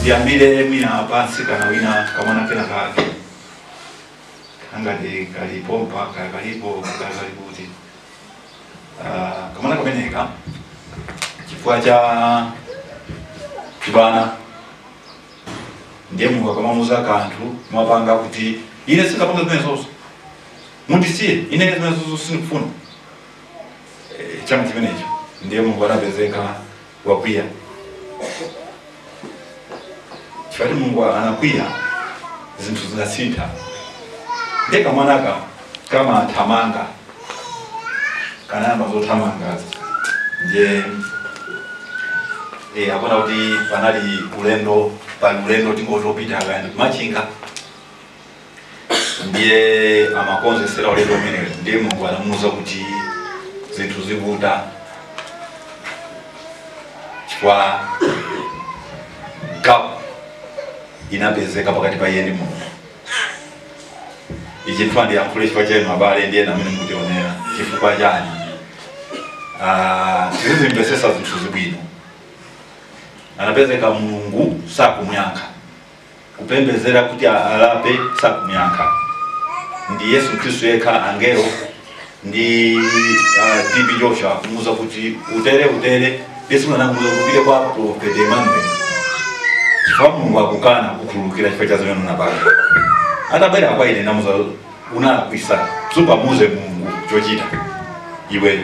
ndiyambire mwina pansi kanaina kamwana kena kake angati kalipo mpaka kaya kalipo kaya kalikuti Ah, kamwana kameneka chifukwa cha chibana ndiye mulungu akamamuuza kanthu mwapanga kuti ine sindingapange zimenezozo mundisiye ine zimenezozo sindikufuna Eh, chamba chimenecho ndiye mulungu anapezeka wakwiya chifukwa mulungu anakwiya zinthu zinasintha ndiye kamwanaka kamathamanga kanayamba zothamangazo ndiye eh, akuona kuti panali ulendo pali ulendo tingotopita kaya ndi ku Machinga ndiye amakonzesera ulendo umenewu ndiye mulungu anamuuza kuti zinthu zikutha chifukwa gap inapezeka pakati pa iye ndi mulungu ichi ndifuna ndiyankhule chifukwa chenu abale ndi enanu amene mukutionera chifukwa chani Ah, tizizimvesesa zinthu bwino anapezeka mulungu sakumuyankha kupembezera kuti alape sakumyankha ndi yesu khristu yekha angelo ndi uh, TB Joshua kumuuza kuti utere utere yesu anamuuza upite kwa profeti emmanuel chifukwa mulungu akukana kukhululukira chifukwa cha zimene unapanga atabwera kwa ine ndamuuza unalakwisa sungamuuze mulungu chochita iwe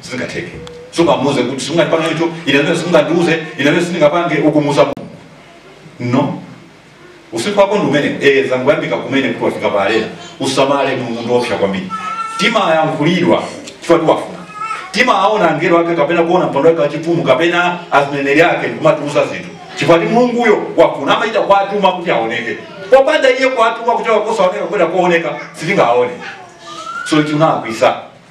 sizingatheke sungamuuze kuti sungandipange icho ine zimene sungandiuze ine zimene sindingapange ukumuuza mulungu no usiku wako ndi umene zangoyambika kumene kuti wafika pa arena usamale mulungu ndiopsa kwambiri timayankhulidwa chifukwa choti wafuna timaona angelo ake kapena kuona mpando wake wachifumu kapena azineneri ake ndikumatiuza zinthu chifukwa choti mulunguyo wafuna amachita kuwatuma kuti aoneke popanda iye kuwatuma kuti wakosaoneka kapena kuoneka sitingaone so chinakwiyitsa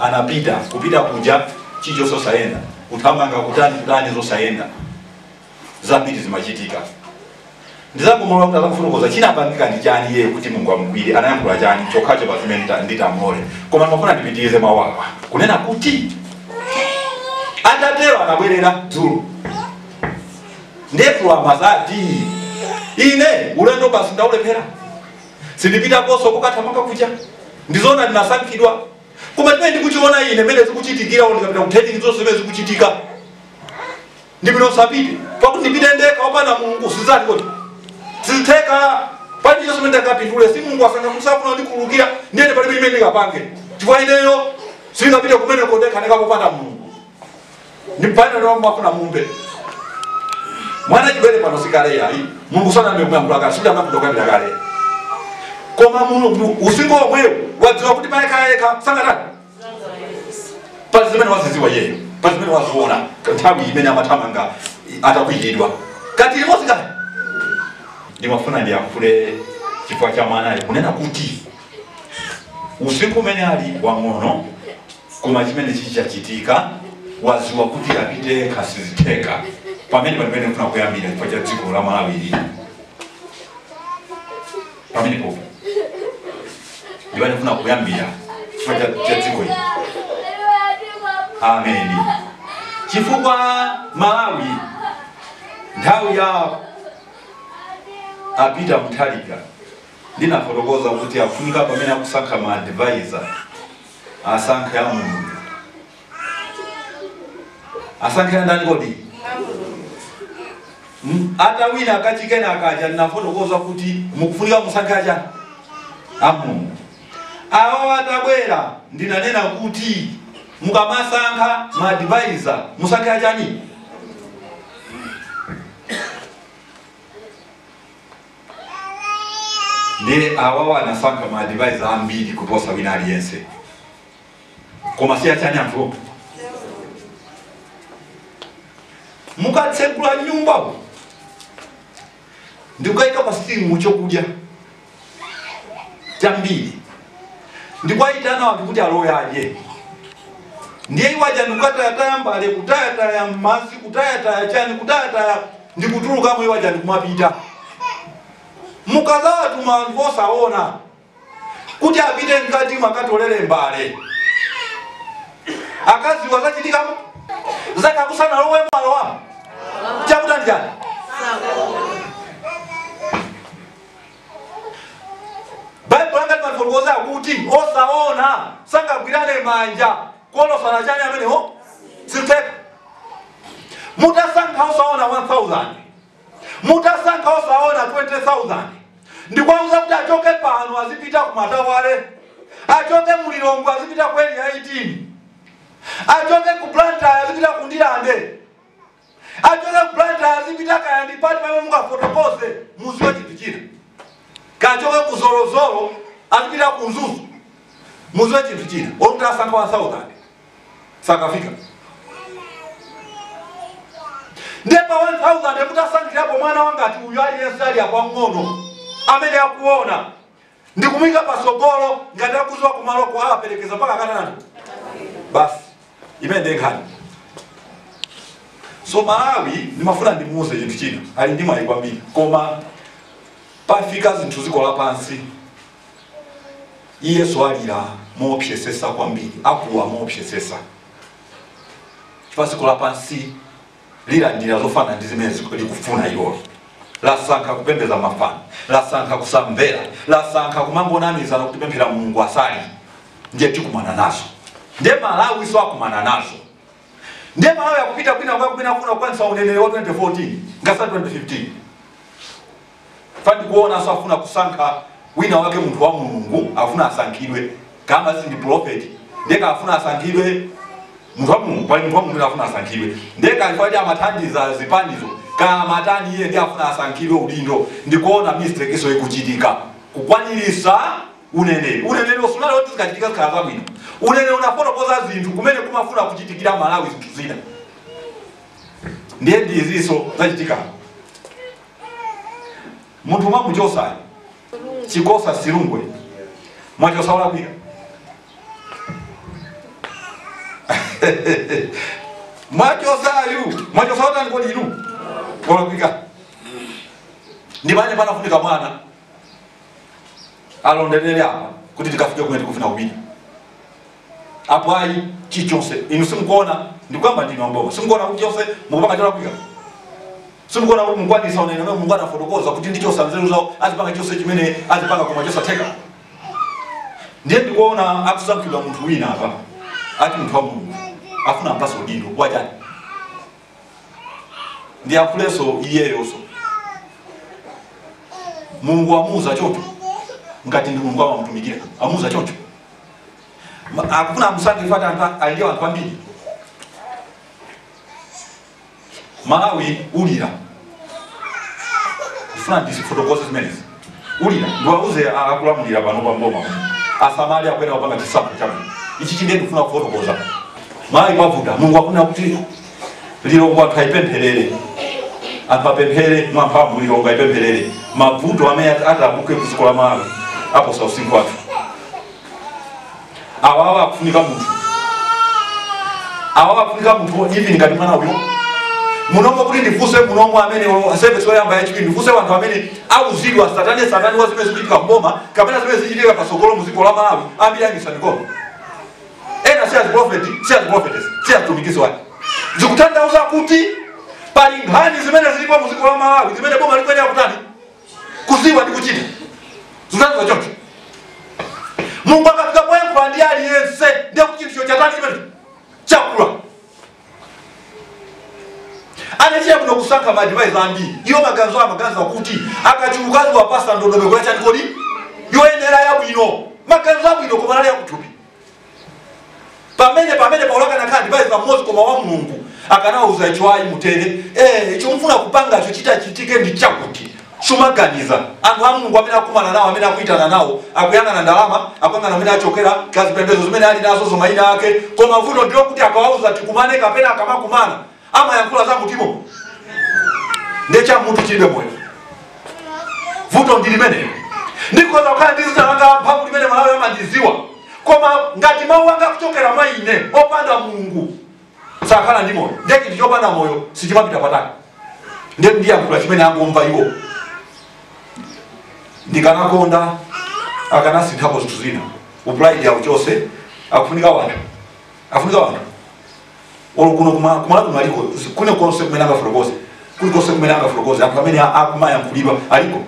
anapita kupita kuja chicho sosayenda kuthamanga kutani kutani zosayenda zambiri zimachitika ndidzangomulola kuti akafotokoze chinapangika ndi chani iye kuti mungu amugwire anayankhula chani chokhacho pazimene ndita- nditamlole koma ndimafuna ndipitirize mawu awa kunena kuti atatero anabwerera dzulo nde amadzati ine ulendo basi ndaulephera sindipitakonso kokathamanga kuja ndizona ndinasankhidwa koma chimene ndikuchiona ine mene zikuchitikira uno ndikapita kuteni zonse zimene zikuchitika ndipita usapite pakuti ndipite ndekha opanda mulungu sizati kuti sizitheka pali chonse mene ndakapindule si mulungu asanga kusafuna ndikhululukira ndiyende palibe imene ndingapange chifukwa ineyo sindingapite kumene kondekha ndekha popanda mulungu ndi bwana lomwe mwafuna mumbe mwana chibwere pano sikale yayi mulungu sanambe kuyankhula kale sikuti amakutukwanira kale koma mulungu usiku omwewo wadziwa kuti payekha sangatani pali zimene waziziwa iyeyo pali zimene waziona nthawi imene amathamanga atakwiyidwa kati limodzi kale ndimafuna ndiyankhule chifukwa cha mwanayo kunena kuti usiku umene ali wang'ono koma chimene chikuchitika waziwa kuti apite yekha sizitheka pamene pamene kufuna kuyambira chifukwa cha dziko la malawi lili pamene pompo ndi pamene kufuna kuyambira chifukwa cha cha dziko ili ameni chifukwa malawi nthawi ya a pita muthalika Ndinafotokoza kuti afunika pamene akusankha ma advisor asankhe a Mulungu. Asankhe andani kodi? M- Atawina a Chakwera akaja ndinafotokoza kuti mukufunika musankhe aja a Mulungu. Awa atabwera ndinanena kuti mukamasankha ma advisor musankhe achani? ndiye awawa anasankha ma advisor ambiri kuposa wina aliyense koma si achani anthu mukatsegula nyumbawo ndikukayika pa sitini chokudya chambiri ndi kuwayitana anthu kuti alowe adye ndiye iwo aja ndikutayataya mbale kutayataya madzi kutayataya chani kutayataya ndikutulukamo iwo aja ndikumapita mukazawatuma anthu osaona kuti apite mkati mwakatolere mbale akadziwa zachitikamo zakakusana lowe mwalowamo chakuta ndi chani baibulo langa limafotokoza kuti osaona sangagwirane manja kulozana chani amenewo sizitheka mutasankha osaona 1000 mutasankha osaona 20000 ndikwauza kuti achoke pano azipita ku matawale achoke mu lilongwe azipita ku area 18 achoke ku blantyre azipita ku ndilande Achoke ku Blantyre azipita kaya ndi pati pamene mungafotokoze mumziwe chinthu china. Kaya achoke ku Zolozolo azipita ku Mzuzu muziwe chinthu china. Olo mutasankha 1000 sakafika. Ndiye pa 1000 mutasankhirapo mwana wangati uyu aliyense ali apa mng'ono amene akuona Ndikumuika patsogolo ngati akuziwa kumalo ko awapelekeza mpaka Kenani basi imene ndiye nkhani so Malawi ndimafuna ndimuuze chinthu china ali ndi mwayi kwambiri koma pafika zinthu ziko lapansi iyeso alira moopsesesa kwambiri akuwa moopsesesa chifukwa ziko lapansi lilandira zofanana ndi zimene ziku- likufuna ilolo lasankha kupembedza mafano lasankha kusamvera lasankha kumangonamizana kuti pemphera mulungu asali nde chikumana nazo ndiye malawi so akumana nazo ndiye malawi akupita kwina kwake kumene kuna kukwanirisa uneneri wa 2014 ngatisa 2015 Fa ndikuonaso afuna kusankha wina wake munthu wa mulungu afuna asankhidwe kaya si ndi prophet ndiye afuna asankhidwe munthu wa mulungu pali munthu wa mulungu afuna asankhidwe ndiye kaya if at amathandiza zipanizo kaya amatani iye ndiye afuna asankhidwe udindo ndikuona mistake iso ikuchitika kukwanirisa uneneri uneneri sunali woti zikachitika zikhala zabwino uneneri unafotokoza zinthu kumene kumafuna kuchitikira malawi zinthu zina ndiye ndiziso zachitika munthu mwamuchosayo Chikosa Silungwe mwachosa olakwika mwachosayu mwachosa otani kodi inu olakwika ndi pamene panafunika mwana alondelele apa kuti tikafike kumene tikufuna kupita apo ayi chichonse inu simukuona ndikuyamba ndinu amboma simukuona kuti chonse mukupanga cholakwika simukuona kuti mukwanirisa uneneri mulungu anafotokoza kuti ndichosa nzeru zawo azipanga chonse chimene azipanga koma chosatheka ndiye ndikuona akusankhidwa munthu wina apa ati munthu wa mulungu afuna ampase udindo wachani ndiyankhulenso iyeyonso mulungu amuuza choncho ngati ndi mulungu amamutumikira amuuza choncho Ma- akufuna amusankhe ifati anthu a- ali ndi anthu ambiri malawi ulira kufuna ndizifotokoze zimenezi ulira ndiwauze akulamulira panopa m'boma kuti asamale akuyenera kupanga chisankho chabwino ichichi ndiye ndikufuna kufotokoza malawi kwavuta mulungu akuna kuti lilongwe anthu ayipempherere anthu apemphere mwamphamvu lilongwe ayipempherere mavuto amene ati- atabuke ku dziko la malawi aposa usinkhu wathu awawa akufunika munthu awawa akufunika munthu wodimini ngati mwana uyo munomo kuti ndifunse munomo amene o- service yoyamba ya chipindu ndifunse wanthu amene auzidwa satane satane wa zimene zikuchitika mboma kapena zimene zichitika pasogolo mu dziko la malawi ambiri angotsalira koma ena si aziprofeti si aziprofetes si azitumikisi wake zikutanthauza kuti pali nkhani zimene zilipo mu dziko la malawi zimene boma likuyenera kutani kuziwa ndi kuchita zinazo choncho mulungu akafika poyankhula ndi aliyense ndiye kuti chinthucho chatani chimene chakula anachita bwino kusankha ma adivaiza ambiri iwo maganizo amaganiza kuti akachuluka aziwapasa ndondomeko yachani kodi yoyenera yabwino maganizo abwino koma anali akuthupi pamene pamene paulo akanakhala ndi adivaiza mmodzi koma wa mulungu akanawauza icho ayi mutere eh, icho mfuna kupangacho chitachitike ndi chakuti samaganiza anthu a mulungu amene akumana nawo amene akuitana nawo akuyang'ana ndalama akuyang'ana amene achokera kazipembedzo zimene ali nazo za mayina ake koma vuto ndilokuti akawauza tikumane kapena akamakumana amayankhula za m'mutumo nde cha mutu chilibe moyo vuto ndi limenelo ndikhoza kukhala ndi zina langa la mphamvu limene a malawi amandiziwa koma ngati mawu anga akuchokera mwa ine opanda mulungu sakhala ndi moyo nde chinthu chopanda moyo sichimapita patali nde ndiyankhula chimene angomva iwo ndikanakonda akanasinthapo zinthu zina upride yawo chose akufunika wanthu akufunika wanthu olo kuno kuma- kumalawi kuno aliko kwina konse kumene angafotokoze kuli konse kumene angafotokoze anthu amene a- akumayankhulidwa aliko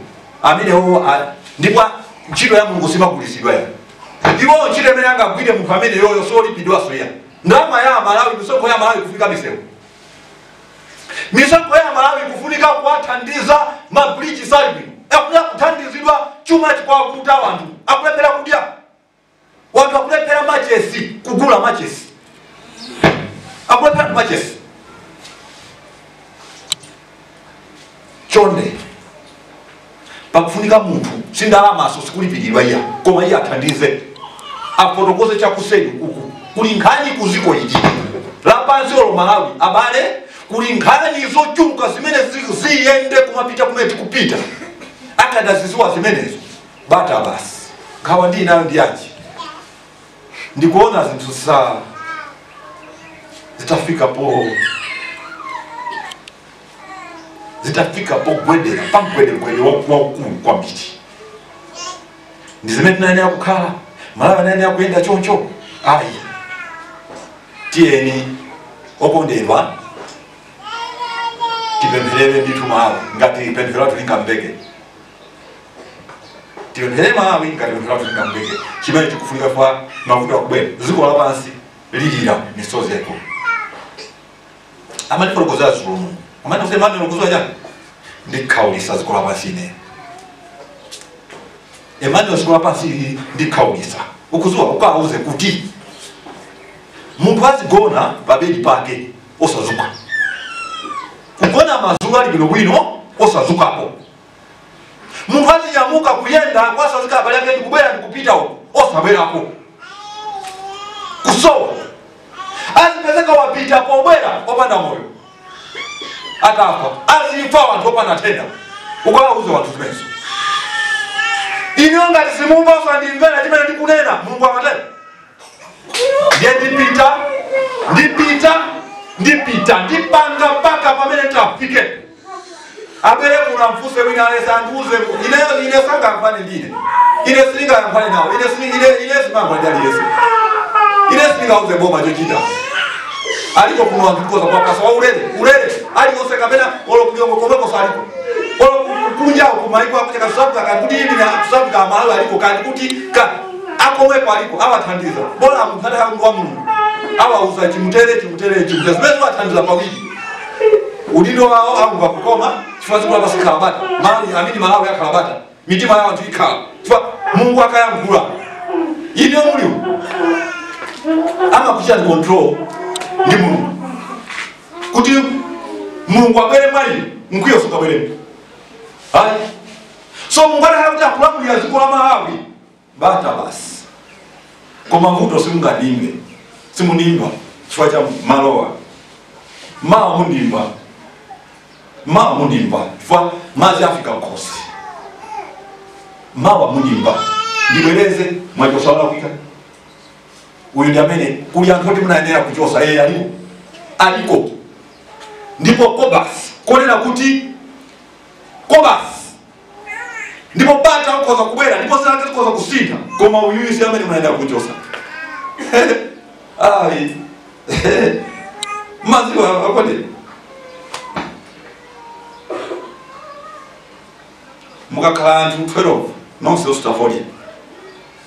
amenewo a- ndipo a- ntchito ya mulungu simagulitsidwa iya ndipo ntchito imene angagwire munthu amene uyoyo siyolipidwaso iya ndalama ya malawi misonkho ya malawi kufunika misewu misonkho ya malawi kufunika kuwathandiza mabridge salvi akuya kuthandizidwa chuma chikuvuta wanthu akulephera kudya wanthu akulephera machesi kugula machesi akulephera anthu machesi chonde pakufunika munthu si ndalamaso sikulipiridwa iya koma iye athandize afotokoze chakuseri uku kuli nkhani kuziko ili lapansi olo malawi abale kuli nkhani zochuluka zimene zi- ziyende kumapita kumene tikupita akadaziziwa zimenezi bata basi nkhawa ndi ndili nayo ndi yachani ndikuona zinthu zitafika po zitafika pogwedera pagwedegwede waukulu kwambiri si mmene tinayenera kukhala malawi sanayenera kuyenda choncho ayi tiyeni okondedwa tipempherere ndithu malawi ngati pemphero lathu lingamveke tipemphere malawi ngati pemphero lathu lingamveke chimene chikufunika koma mavuto akubwera dziko lapansi lilira misozi yaikulu amatifotokozera dzulo mu amatifotokozera amati ukudziwa chani ndikhaulisa dziko lapansi ine emmanuel dziko lapansi ili ndikhaulisa ukudziwa ukawauze kuti munthu azigona pabedi pake osadzuka kugona madzulo ali bwinobwino osadzukapo munthu azinyamuka kuyenda kuwatsanzika abale ake ndikubwera ndikupita uko osabwerako kusowa azipezeka wapita pobwera opanda moyo atafa azifa wanthu opanda nthenda ukawauza wanthu zimenezo inuyo ngati simumva osandimvera chimene ndikunena mulungu amatero ndiye ndipita ndipita ndipita ndipanga mpaka pamene tafike abwere kundifunsa wina aliyense andiuze ineyo ine sangayankhulane ndi ine ine sindingayankhulane nawo ine sini- ine- ine sindingayankhulane ndi aliyense ine sindingauze boma chochita aliko kuno anthu tikhoza kuwapatsa wa ulere ulere aliyonse kapena olo ku joni komwekonso aliko olo kunjawo kumaiko akutchedwa tusabika kani kuti imine tusabika amalawi aliko kani kuti ka akomweko alipo awathandiza bola munthu atakhala munthu wa mulungu awauza chitani mutere chitani mutere chitani mutere zimene ziwathandiza paudindo udindo wawo amva kukoma chifukwa dziko lapansi likhala bata malawi amene malawi akhala bata mitima ya wanthu ikhala chifukwa mulungu akayankhula ine mzimu amakuchita ndi control ndi mulungu kuti mulungu abwere mwa ine mkwiyo sukabweremo ayi so mulungu atakhala kuti akulamulira dziko la malawi bata basi koma vuto simungandimve simundimva chifukwa cha malowa mawa mundimva mawa mundimva chifukwa madzi afika m'khosi mawa mundimva ndibwereze mwachotsa olakwika uyu ndi amene kuli anthu oti munayenera kuchotsa eee aliko aliko ndipo nkofatsa konena kuti nkofatsa ndipo bata likhoza kubwera ndipo zinazake zikhoza kusintha koma uyuyu si amene munayenera kuchotsa ayi mumadziwa kuti mukakhala anthu 12 nonse osuta fodya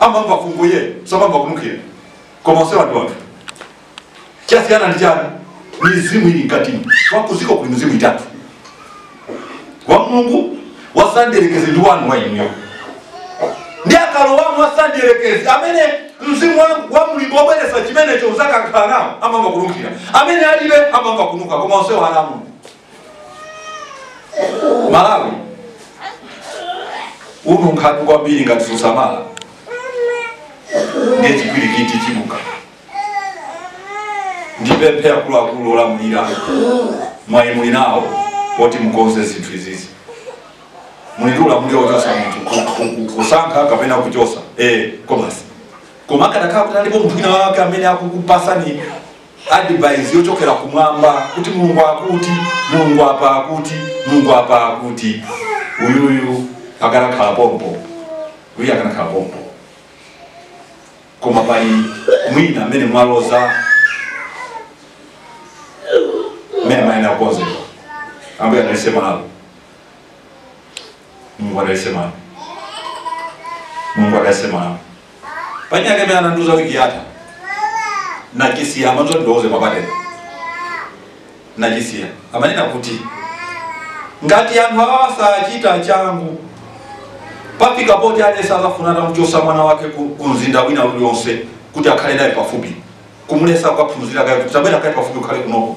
amamva fungo ena amamva kunukira koma onse wanthu wanthu chasiyana ndi chani mizimu ili mkatini wa kudziko kuli mizimu itatu wa mulungu wa mdierekezi ndi wanu wa inuyo ndi akalowamo wa mdierekezi amene mzimu wa- wa mulungu wobweretsa chimenecho anzako akakhala nawo amamva kunukira amene alibe amamva kunuka koma onse wamoyo malawi ubvundukatu kwambiri ngati susamala ndiye chipwirikiti chibuka ndipemphe akuluakulu olamulira mwayi muli nawo woti mukonze zinthu izizi muli ndi ulamuliro wochosa munthu ku- ku- ku- kusankha kapena kuchosa eh komanso koma akadakhala kuti alipo munthu wina wake amene akukupasani advice yochokera kumwamba kuti mulungu akuti mulungu apa akuti mulungu apa akuti uyuyu akanakhala pompo uyu akanakhala pompo koma pali wina amene mwaloza mmene mayenera kukonzedwa ambuye analisema nalo Mungu anasema Mungu anasema panyake mena nduza wiki yata na kisia ambazo ndoze mapate na kisia amanena kuti ngati anthu awa sachita changu pafika poti alesa azafuna atamuchosa mwana wake ku mzinda wina ulionse kuti akhale naye pafupi kumulesa kukaphunzira kaye kuti tabwera kaye pafupi ukhale kunoko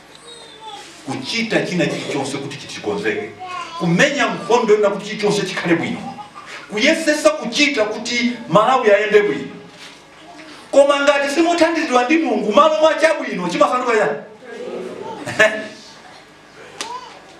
kuchita china chilichonse kuti chikonzeke kumenya nkhondo na kuti chilichonse chikhale bwino kuyesesa kuchita kuti malawi ayende bwino koma ngati simuthandizidwa ndi mulungu malo mwa chabwino chimasanduka chani